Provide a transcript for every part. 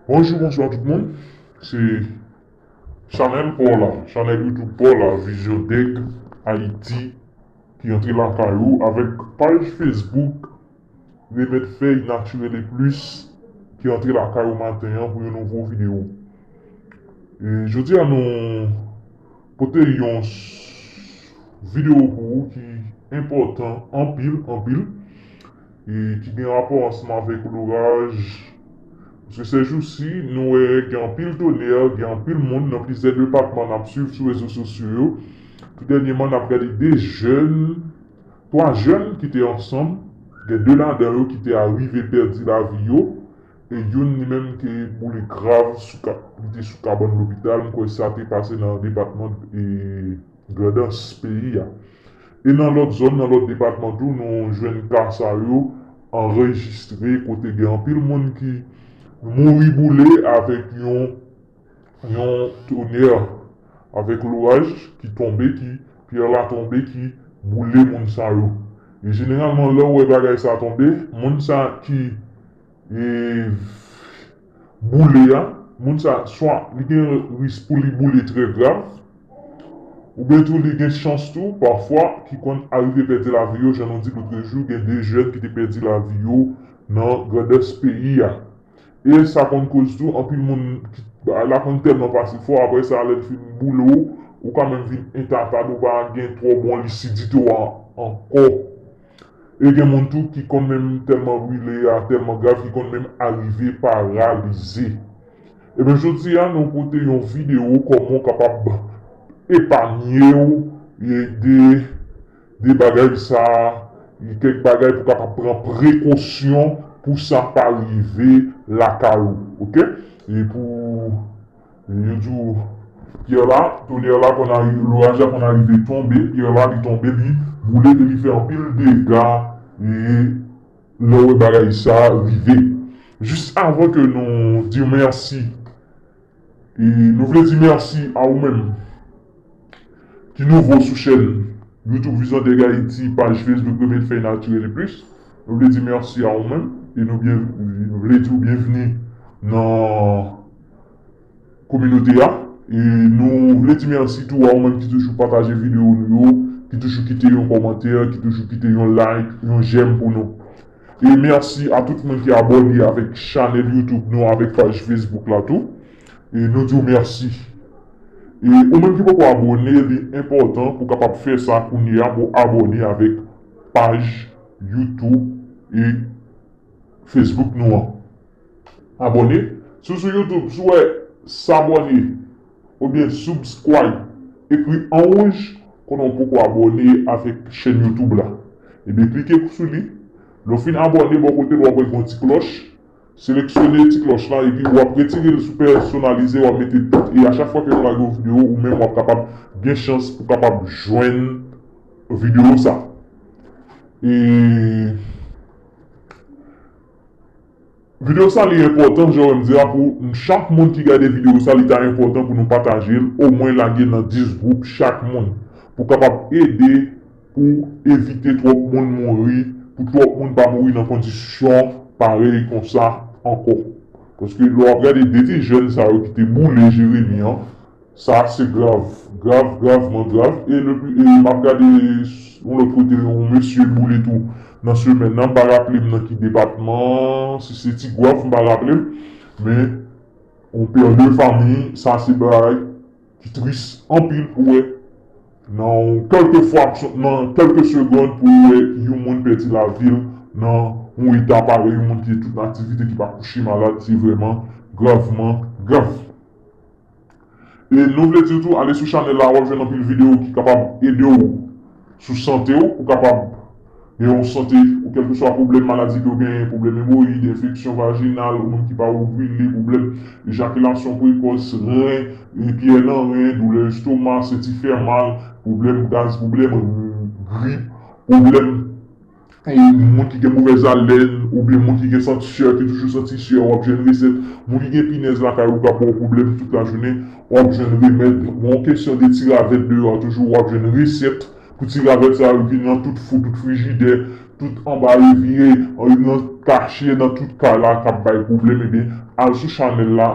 Bonjou bonswa tout moun se chanèl paw la chanèl youtube paw la vizyon dèk ayiti ki antre lakay ou avèk paj fesbouk remèd fèy natirèl e plis ki antre lakay ou maten an pou yon nouvo video jodi a nou pote yon video pou ou ki enpòtan anpil anpil e ki gen rapò ansanm avèk loraj, paske sèjousi nou wè gen anpil tonè, gen anpil moun nan plizyè depatman n ap suiv sou rezo sosyo yo, tou dènyèman n ap gade 2 jèn, 3 jèn ki te ansanm, gen 2 ladan yo ki te arive pèdi lavi yo, e youn li menm te boule grav, li te sou kabann lopital, m kwè sa te pase nan depatman. Grandans peyi a. E nan lòt zòn, nan lòt depatman tou nou jwenn ka sa yo anrejistre kote gen anpil moun ki mouri boule avèk yon yon tonè, avèk loraj ki tonbe ki, pyè la tonbe ki boule moun sa yo. E jeneralman lè ou wè bagay sa tonbe, moun sa ki e. boule a, moun sa swa li gen risk pou li boule trè grav, oubyen tou li gen chans tou pafwa ki konn arive pèdi lavi yo jan nou di lotrejou gen 2 jèn ki te pèdi lavi yo nan grandès peyi a. E sa konn koz tou anpil moun ki bagay la konn tèlman pase fò aprè sa lè l fin boule w ou ka menm vin entatad ou pa gen twò bon lisidite w ankò. E gen moun tou ki konn menm tèlman brile a tèlman grav ki konn menm arive paralize. Ebyen jodi a nou pote yon videyo kòman w kapab epanye w de de bagay sa, kèk bagay pou w kapab pran prekosyon pou sa pa rive lakay ou ok e pou. Yo di w pyè la, tonè la konn arive, loraj la konn arive tonbe, pyè la li tonbe li boule e li fè anpil dega e lè w wè bagay sa rive. Jis avan ke nou di mèsi, nou vle di mèsi a ou menm. ki nouvo sou chèn YouTube Vision Thug Haiti, paj Facebook Remèd Fèy Natirèl e plis, nou vle di mèsi a ou menm e nou vle di w byenvni nan kominote a e nou vle di mèsi tou a ou menm ki toujou pataje videyo nou yo, ki toujou kite yon kòmantè, ki toujou kite yon like, yon jèm pou nou. E mèsi a tout moun ki abòne avèk chanèl YouTube nou, avèk paj Facebook la tou e nou di w mèsi. E ou menm ki poko abone li enpòtan pou kapab fè sa kounye a pou abone avèk paj YouTube e Facebook nou an. Abone Si w sou YouTube si w wè S'abonner oubyen Subscribe ekri an wouj konnen w poko abone avèk chèn YouTube la. Ebyen klike sou li. Lè w fin abone bò kote l wap wè gen yon ti klòch. Seleksyone ti klòch lan epi ou ap retire l sou pèsonalize wap mete tout e a chak fwa ke nou lage yon video ou menm wap kapab gen chans pou kapab jwenn video sa e video sa li enpòtan jan wèm di a pou chak moun ki gade video sa li ta enpòtan pou nou patajel omwen lage nan 10 gwoup chak moun pou kapab ede pou evite twòp moun mouri, pou twòp moun pa mouri nan kondisyon parèy konsa ankò. Paske lè w ap gade de ti jèn sa yo ki te boule Jeremi an, sa se grav, grav, gravman grav. E m ap gade yon lòt kote yon mesye boule tou nan semèn nan, m pa raple m nan ki depatman, si se Tigwav m pa raple m. Men yon père de famille, sa se bagay. Ki tris anpil pou wè nan yon kèlke fwaksyon, nan kèlke segond pou w wè yon moun pèdi lavi l nan yon eta parèy, yon moun ki tout aktivite ki pa kouche malad, se vrèman gravman grav. E nou vle di w tou ale sou chanèl la, w ap jwenn anpil videyo ki kapab ede w Sou sante w, ou kapab gen yon sante ou kèlkeswa pwoblèm maladi ke w genyen, pwoblèm emowoyid, enfeksyon vajinal, moun ki pa ovile, pwoblèm ejakilasyon prekòs, ren, pyè nan ren, doulè estoma, senti fè mal, pwoblèm gaz, pwoblèm grip, pwoblèm. Moun ki gen movèz alèn oubyen moun ki gen sant syè ki toujou santi syè wap jwenn resèt, moun ki gen pinèz lakay ou kap baw pwoblèm tout lajounen wap jwenn remèd, bon kesyon de ti ravèt deyò a toujou wap jwenn resèt pou ti ravèt sa yo ki nan tout fou tout frijidè tout anba evye nan kache nan tout kay la kap bay pwoblèm ebyen al sou chanèl la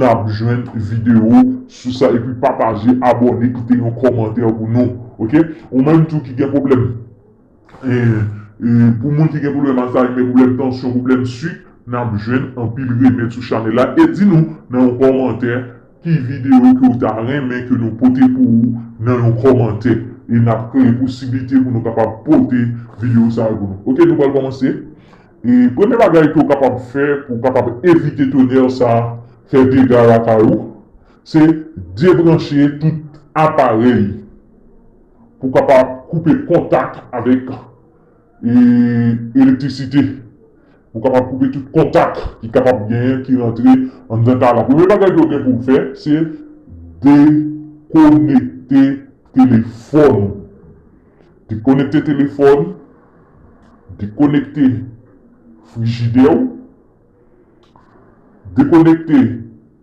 nap jwenn videyo sou sa epi pataje abòne kite yon kòmantè pou nou ok ou menm tou ki gen pwoblèm. Pou moun ki gen pwoblèm alzayme, pwoblèm tansyon, pwoblèm swik nap jwenn anpil remèd sou chanèl la e di nou nan yon kòmantè ki videyo ke ou ta renmen ke nou pote pou ou nan yon kòmantè e nap kreye posiblite pou nou kapab pote videyo sa yo pou nou ok nou pral kòmanse e premye bagay ke ou kapab fè pou ou kapab evite tonè sa fè dega lakay ou se debranche tout aparèy. Pou kapab koupe kontak avèk elektrisite. Pou kapab koupe tout kontak ki kapab genyen ki rantre anndan kay la. Premye bagay ke w gen pou w fè se dekonekte telefòn ou. Dekonekte telefòn, dekonekte frijidè ou, dekonekte.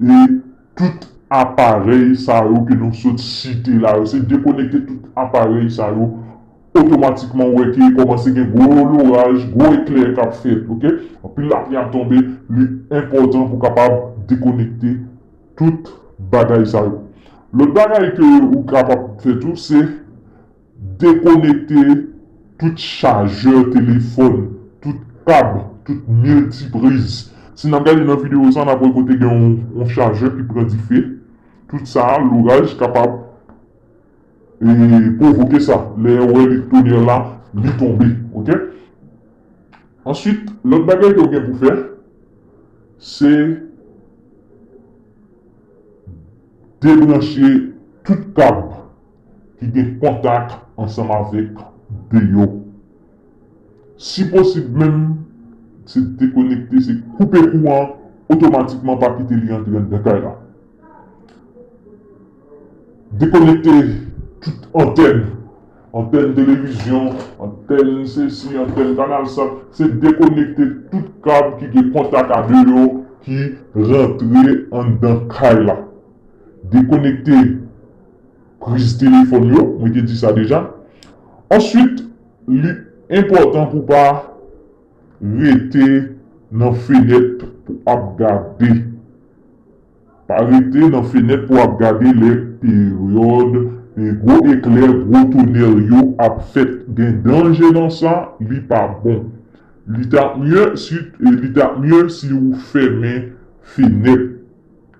E tout aparèy sa yo ke nou sot site la yo, se dekonekte tout aparèy sa yo, otomatikman ou wè ke kòmanse gen gwo loraj, gwo eklè k ap fèt ok. Anpil lapli ap tonbe, li enpòtan pou kapab dekonekte tout bagay sa yo. Lòt bagay ke ou kapab fè tou se. Dekonekte tout chajè telefòn, tout kab, tout miltipriz. Si n ap gade nan videyo sa, n ap wè kote gen yon chajè ki pran dife. Tout sa, loraj kapab pwovoke sa. Lè ou wè li tonnerre la, li tonbe. Ok? Answit, lòt bagay ke ou gen pou fè, se debranche tout kab. ki gen kontak ansanm avèk de yo. Si posib menm, se dekonekte, se koupe kouran an otomatikman pa kite li antre anndan kay la. Dekonekte tout antèn, antèn televizyon, antèn sesi, antèn kanal sa, se dekonekte tout kab ki gen kontak a de yo ki rantre anndan kay la. Dekonekte. Kriz telefòn yo, mwen te di sa deja. Answit, li enpòtan pou pa rete nan fenèt pou ap gade. Pa rete nan fenèt pou ap gade lè peryòd gwo eklè, gwo tonè yo ap fèt. Gen danje nan sa, li pa bon. Li ta mye si ou fèmen fenèt.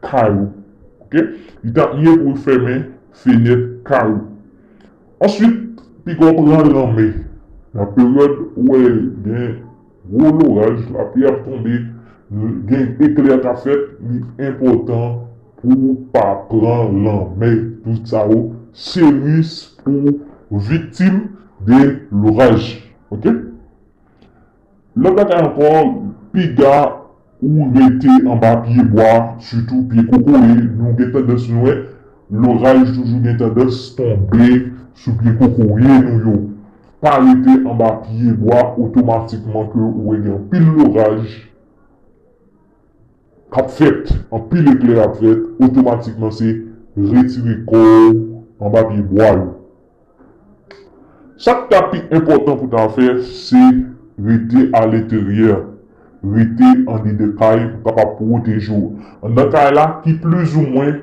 kay ou. Ok. Li tap mye pou ou fèmen fenèt kay ou. Answit, pika w pran lanmè. Nan peryòd ou wè gen gwo loraj, lapli ap tonbe, gen eklè kap fèt, li enpòtan pou ou pa pran lanmè. Tout sa yo se risk pou ou viktim de loraj. Ok. Lòt bagay ankò, piga ou rete anba pye bwa, sitou pye kokoye, nou gen tandans nou wè loraj toujou gen tandans tonbe sou pye kokoye nou yo. Pa rete anba pye bwa otomatikman ke ou wè gen anpil loraj. k ap fèt, anpil eklè ap fèt, otomatikman se retire kò w anba pye bwa yo. Sa k ta pi enpòtan pou w ta fè, se rete aleteryè, rete andedan kay pou kapab pwoteje w. Anndan kay la ki plizoumwen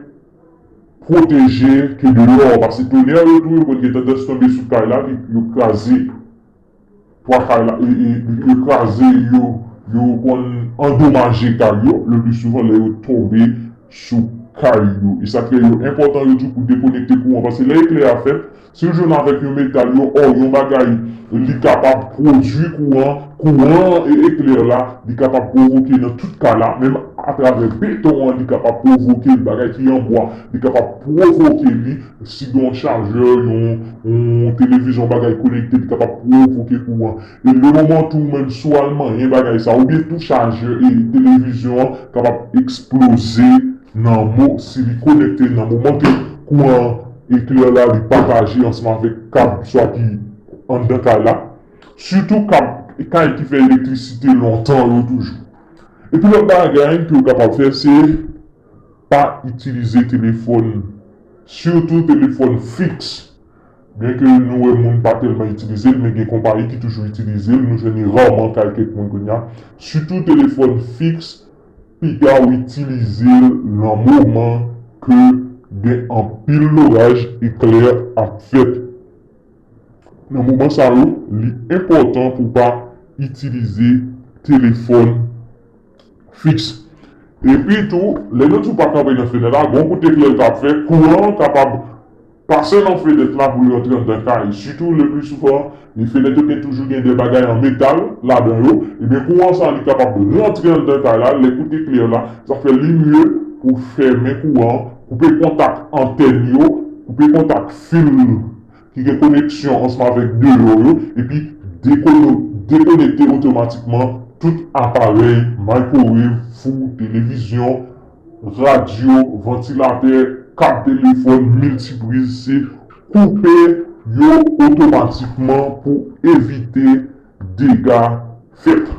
pwoteje ke deyò, paske tonè yo tou yo konn gen tandans tonbe sou kay la, yo kraze. Pwa kay la yo kraze yo, yo konn andomaje kay yo le pli souvan lè yo tonbe sou kay yo. E sa k fè yo enpòtan yo di pou dekonekte kouran paske lè eklè a fèt, si l jwenn avèk yon metal yo ò yon bagay li kapab pwodui kouran, kouran an e eklè la li kapab pwovoke nan tout kay la menm atravè beton an li kapab pwovoke l bagay ki an bwa li kapab pwovoke li Si gen yon chajè, yon televizyon, yon bagay konekte ki kapab pwovoke kouran. E le moman tou ou menm si w al manyen bagay sa oubyen tou chajè e televizyon an kapab eksploze nan mo si li konekte nan moman ke kouran an eklè la li pataje ansanm avèk kab swa ki anndan kay la. Sitou kab kay ki fè elektrisite lontan yo toujou. Epi lòt bagay ke ou kapab fè se. Pa itilize telefòn, sitou telefòn fiks. Byenke nou wè moun pa tèlman itilize l, men gen konpayi ki toujou itilize l, nou jwenn li raman kay kèk moun kounye a. Sitou telefòn fiks, piga w itilize l nan moman ke gen anpil loraj, eklè ap fèt. Nan moman sa yo, li enpòtan pou w pa itilize telefòn. fiks. Epi tou, lè yon twou pa kanpe nan fenèt la, gon kout eklè l ka ap fè, kouran an kapab pase nan fenèt la pou l rantre anndan kay. Sitou leplisouvan, e fenèt yo gen toujou gen de bagay an metal ladan yo, ebyen kouran sa a li kapab rantre anndan kay la, lè kout eklè la, sa fè li mye pou w fèmen kouran an, koupe kontak antèn yo, koupe kontak fil. ki gen koneksyon ansanm avèk deyò yo epi dekonekte otomatikman tout aparèy, microwave, fou, televizyon, radyo, vantilatè, kab telefòn, miltipriz, se koupe yo otomatikman pou evite. dega fèt.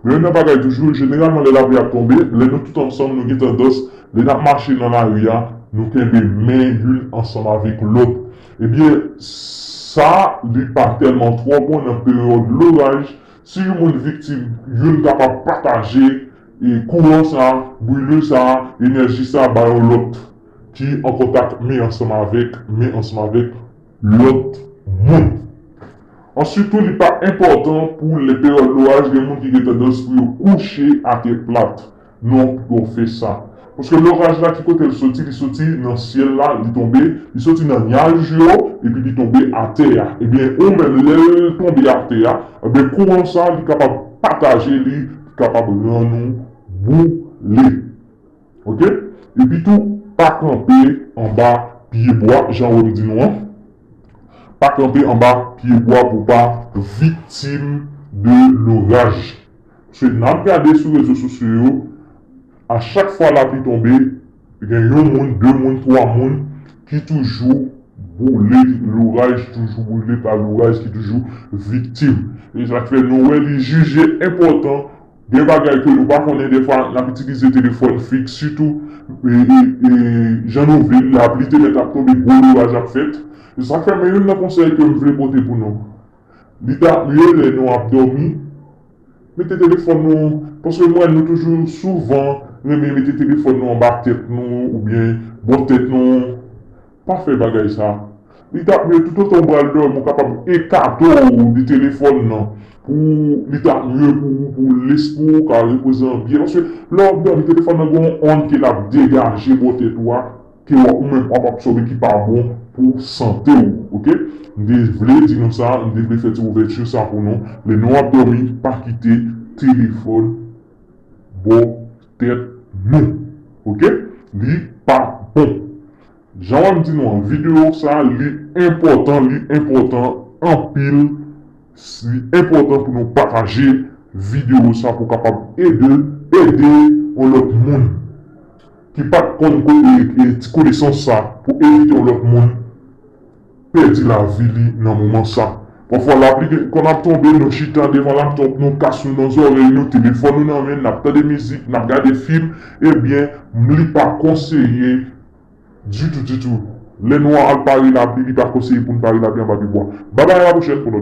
Men yon nan bagay toujou, jeneralman lè lapli ap tonbe, lè nou tout ansanm nou gen tandans, lè n ap mache nan lari a, nou kenbe men youn ansanm avèk lòt. Ebyen, sa li pa tèlman twò bon nan peryòd loraj, si yon moun viktim, youn kapab pataje kouran sa, brile sa, enèji sa ba yon lòt ki an kontak men ansanm avèk men ansanm avèk lòt moun. Ansuit tou li pa enpòtan pou lè peryòd loraj gen moun ki gen tandans pou yo kouche atè plat non pou yo fè sa. Paske loraj la ki kote l soti li soti nan syèl la li tonbe li soti nan nyaj yo epi li tonbe atè a ebyen ou menm lè l tonbe atè a ebyen kouran sa li kapab pataje li kapab rann ou boule. Ok epi tou pa kanpe anba pye bwa jan wèm di nou an pa kanpe anba pye bwa pou pa viktim de loraj pske nap gade sou rezo sosyo yo a chak fwa lapli tonbe gen yon moun de moun twa moun ki toujou boule loraj toujou boule pa loraj ki toujou viktim esak fè nou wè li jije enpòtan Gen bagay ke nou pa konnen dèfwa n ap itilize telefòn fiks sitou jan nou vle l lapli te mèt ap tonbe gwo loraj ap fèt se sak fè men youn nan konsèy ke m vle pote pou nou li ta mye lè nou ap dòmi mete telefòn nou paske m wè nou toujou souvan renmen mete telefòn nou anba tèt nou oubyen bò tèt nou. Pa fè bagay sa. Li tap mye toutotan ou pral dòmi ou kapab ekate w de telefòn nan pou li ta mye pou ou pou lespri w ka repoze an byen paske lè wap dòmi telefòn nan gen yon ond ke lap degaje bò tèt ou a ke wap ou menm wap absòbe ki pa bon pou sante w ok. M te vle di nou sa, m te vle fè ti ouvèti sa pou nou lè nou ap dòmi pa kite telefòn bò. tèt nou ok li pa bon jan wap di nou an video sa li enpòtan li enpòtan anpil li enpòtan pou nou pataje video sa pou kapab ede ede yon lòt moun ki pat konn ti konesans sa pou evite yon lòt moun. pèdi lavi li nan moman sa. Pafwa lapli gen konn ap tonbe nou chita devan laptop nou kas nou nan zòrèy nou telefòn nou nan men nap tande mizik nap gade fim ebyen li pa konseye ditou ditou lè nou al pare lapli li pa konseye poun pare lapli anba pye bwa. Babay a la pwochèn pou lòt videyo.